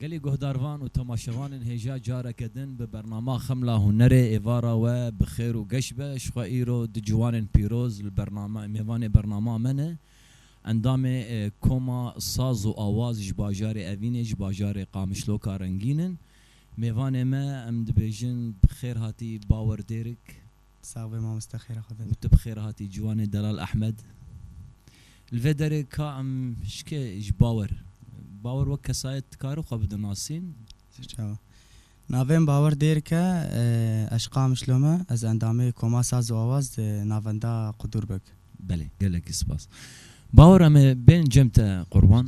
Gelê guhdarvan û temaşevanên hêja careke din bi bernama Xemla Hunerê êvara we bi xêr û geş be. Ji xwe îro du ciwanên pîroz li bernama mêvanê bernama me ne. Endamê Koma Saz û Awaz ji bajarê Evînê ji bajarê Qamişloka Rengîn in. Mêvanê me em dibêjin bi xêr hatî Bawer Dêrik. Sax be mamoste xêra xwe bide. Tu bi xêr hatî ciwanê Delal Ehmed. Li vê derê ka em şikê ji Bawer. Bawer wek kesayet dikarin xwe bidin nasîn. Çawa. Navem Bawer Dêrk e, ez Qamişlom e, ez endamê Koma Saz û Awaz di navenda Qudûrbeg. Belê, gelekî sipas. Bawer em ê bên cem te qurban.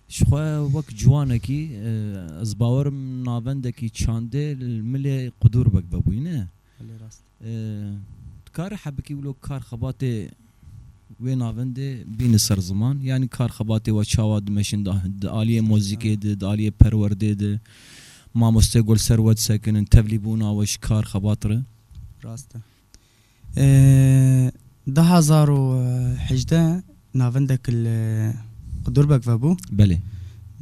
Ji xwe wek ciwanekî, ez bawer im navendekî çandê li milê qudûr wek vebûyî ne? Belê rast. Dikare hebikî wilo kar xebatê wê navendê bîne ser ziman? Yanî kar xebatê we çawa dimeşin di di aliyê mozîkê de, di aliyê perwerdê de? Mamoste Gol ser we disekinin tevlîbûna we ji kar xebat re? Rast e. Du hezar û hejdeh navendek li Qudurbeck vebû. Belê.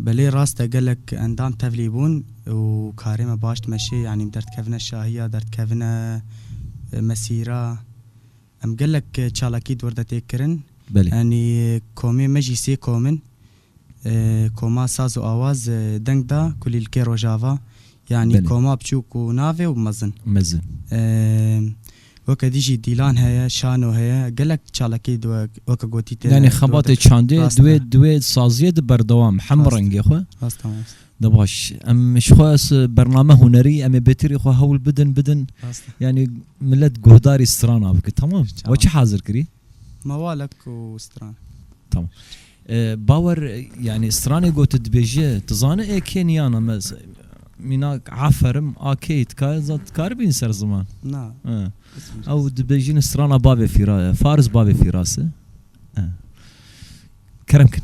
Belê rast e gelek endam tevlî bûn û karê me baş dimeşê yanî derdkevine şahiya derdkevine mesîra em gelek çalakî di wir de têk kirin. Belê. Yanî komê me jî sê kom in. Koma saz û awaz deng da kulîlkê Rojava, yanî koma biçûk û navê û mezin. Weke dî jî dîlan heye, şano heye, gelek çalakî di we weke gotî tê de. Yanî xebatê çandê di wê saziyê de berdewam e hemû rengê xwe. De baş em ji xwe ez bername hunerî em ê bêtirî xwe hewl bidin bidin. Yanî milet guhdarî strana bike temam. We çi hazir kirî? Mawalek û stran. Tamam. Bawer yani stranê go tu dibêje tu zani ê kê niyana me mînak aferim a kê tika zan tu kari bîn ser ziman. Na. Ew dibêjin strana bavê fîra fariz bavê fîrasi. Kerem kin.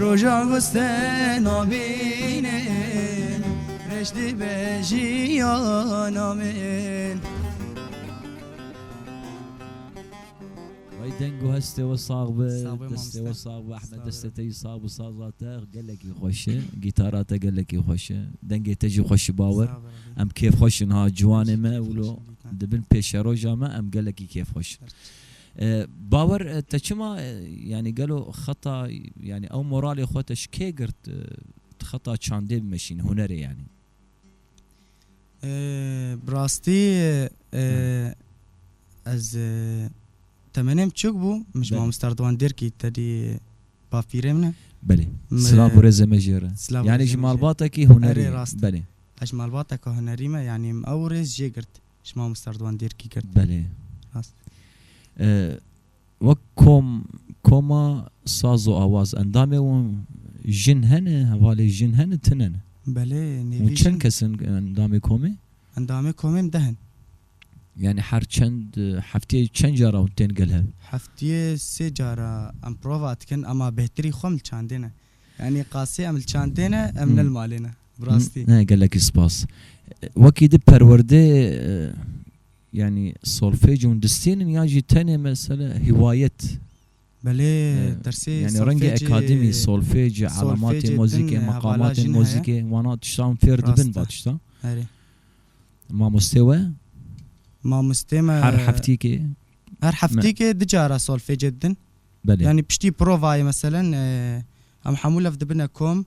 Roja wis te nabînin reş dibe jiyana min. Ay deng û hestê we sax be, Sağ be destê we mamoste. sax be Ehmed, Sağ destê be. te jî sax be, saza te gelekî xweş e, gîtara te gelekî xweş e, dengê te jî xweş e bawer. Sağ ol Rabî. Em kêfxweş in ha ciwanê me, Kêfxweş wilo in dîtan. di bin pêşeroja me em gelekî kêfxweş in. Bawer te çima yanî gelo xeta yanî ew moralê xwe te ji kê girt tu xeta çandê bimeşîn hunerê yanî? Bi rastî ez temenê min çûk bû min ji mamoste Erdogan Dêrkî tedî bavpîrê min e. Belê silav û rêzê me ji wê re yanî ji malbatekî hunerî belê. Ez ji malbateke hunerî me yanî min ew rêz jê girt. Ji mamosta Erdogan dêrkî kir. Belê. Rast. Wek kom, koma saz û awaz endamê wan jin hene, hevalê jin hene, tune ne? Belê, nêvî jin. Û çend kes in endamê komê? Endamê komê em deh in. Yanî her çend hefteyê çend cara hûn tên gel hev? Hefteyê sê cara em prova dikin, ema bêhtirî xwe em li çandê ne. Yanî qasê em li çandê ne, em ne li malê ne. bi rastî. Ne gelekî spas. Wekî di perwerdê yanî solfej û distên in yan jî tenê mesele hiwayet. Belê dersê solfejê. Yanî rengê akademî solfej elematê mozîkê meqamatên mozîkê wana tiştan fêr dibin va tiştan. Erê. Mamostê we? Mamostê me. Her heftîkê? Her heftîkê di cara solfejê didin. Belê. Yanî piştî provayê meselen em hemû lev dibine kom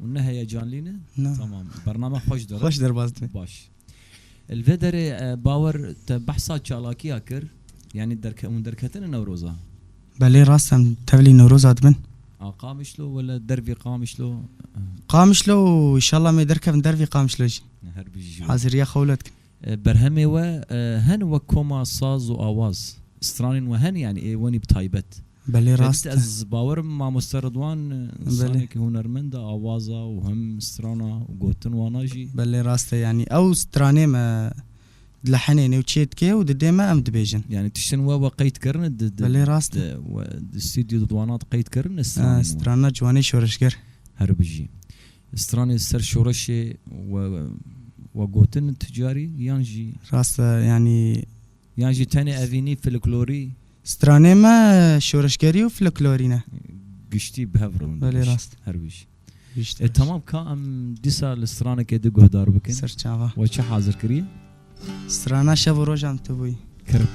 Hûn ne heyecanlî ne? Na. Tamam. Bername xweş der e. Xweş derbas dibe. Baş. Li vê derê bawer te behsa çalakiya kir. Yanî derke hûn derketine Newroza? Belê rast em tevlî Newroza dibin. A Qamişlo wele dervî Qamişlo? Qamişlo û îşallah em ê derkevin dervî Qamişlo jî. Her bijî ji we. Haziriya xwe wile dikin. Berhemê we hen wek koma saz û awaz. Stranên we hen yanî ê wenî bi taybet. Belê rast e. Ez bawerim mamoste Ridwan insanekî hunermend e awaza û him strana û gotin wana jî. Belê rast e yanî ew stranê me dilehenê newçeyê dike û di dê me em dibêjin. Yanî tiştin we we qeyd kirine di Belê rast e. Di stûdyo di wana de qeyd kirine stranên we. Strana ciwanê şoreşger. Her bijî. Stranê ser şoreşê we we gotin ti carî yan jî. Rast e yanî. Yan jî tenê evînî, filiklorî? Stranê me şoreşgerî û filiklorî ne. Giştî bi hev rewin. Belê rast. Her wî jî. E temam ka em dîsa li stranekê di guhdar bikin. Ser çava. We çi hazir kirî? Strana şev û rojan tu bûyî. Kirk.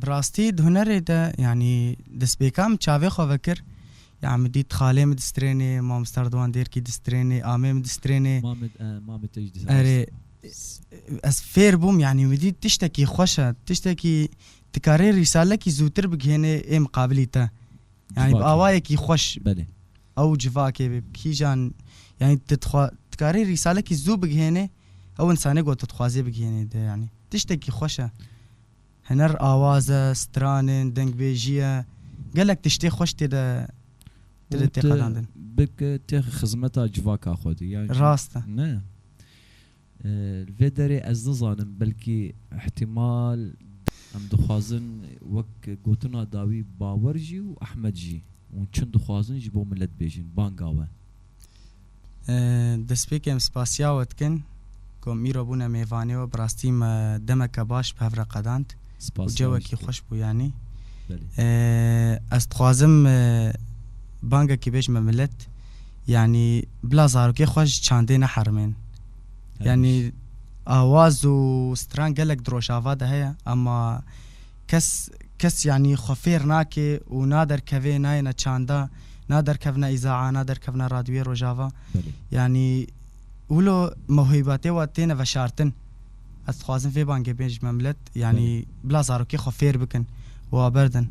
Bi rastî di hunerê de yanî destpêka min çavê xwe vekir ya min dît xalê min distrênê, mamosta Rêdwan Dêrkî distrênê, amê min distrênê. Erê ez fêr bûm yanî min dît tiştekî xweş e, tiştekî dikarê rîsalekî zûtir bigihênê ê miqabilî te. Yanî bi awayekî xweş. Ew civakê bi kîjan yanî tu dixwa dikarî rîsalekî zû bigihênê ew însanê ku tu dixwazê bigihênê de yanî tiştekî xweş e. Hiner awaz e, stranên, dengbêjî ye gelek tiştê xweş tê de tê de têqedandin. Û tu bike tê xizmeta civaka xwe de yanî. Rast e. Ne. Li vê derê ez nizanim belkî îhtîmal em dixwazin wek gotina dawî Bawer jî û Ehmed jî û çin dixwazin ji bo milet bêjin. Banga we. Destpêkê em spasiya we dikin ku em îro bûne mêvanê we, bi rastî me demeke baş bi hev re qedand. Spas Cewekî Ravîşt Bey. xweş bû yanî. Belê. Ez dixwazim bangekî bêjim me milet yanî bila zarokê xwe ji çandê neherimên. Yanî awaz û stran gelek di rojava de heye ema kes kes yanî xwe fêr nake û naderkevê nayêne çanda, naderkevne îzaa, naderkevne radyoyê rojava. Belê. Yanî. Wilo muhîbetê we têne veşartin. Ez dixwazim vê bangê bên ji me milet yanî bila zarokê xwe fêr bikin û a berdin.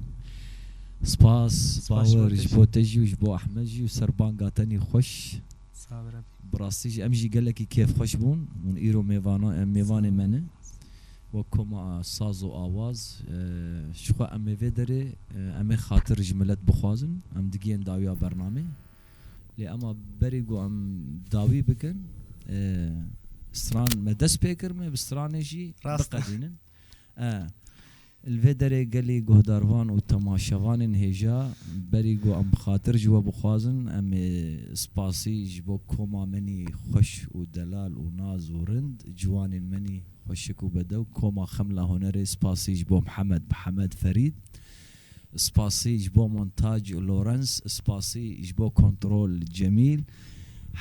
Spas Bawer ji bo te jî û ji bo Ehmed jî û ser banga tenî xweş. Sağ bi Rebbi. Bi rastî jî em jî gelekî kêfxweş bûn. Hûn îro mêvanan em mêvanê me ne. Wek koma saz û awaz ji xwe em ê vê derê em ê xatir ji milet bixwazin. Em digiyên dawiya bernamê. Lê ema berê ku em dawî bikin stran me dest pê kir me bi stranê jî biqedînin. Li vê derê gelê guhdarvan û temaşevanên hêja berî ku em xatir ji we bixwazin em ê spasî ji bo koma menî xweş û delal û naz û rind ciwanên menî xweşik û bedew koma Xemla Hunerê spasî ji bo Mihemed Mihemed Ferîd Spasî ji bo montaj Lawrence, spasî ji bo kontrol Cemîl.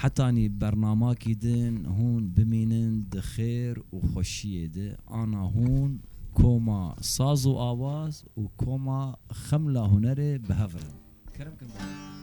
Hetanî bernama kî din hûn bimînin di xêr û xweşiyê de. Ana hûn koma saz û awaz û koma xemla hunerê bi hev rin. Kerem kin bavê.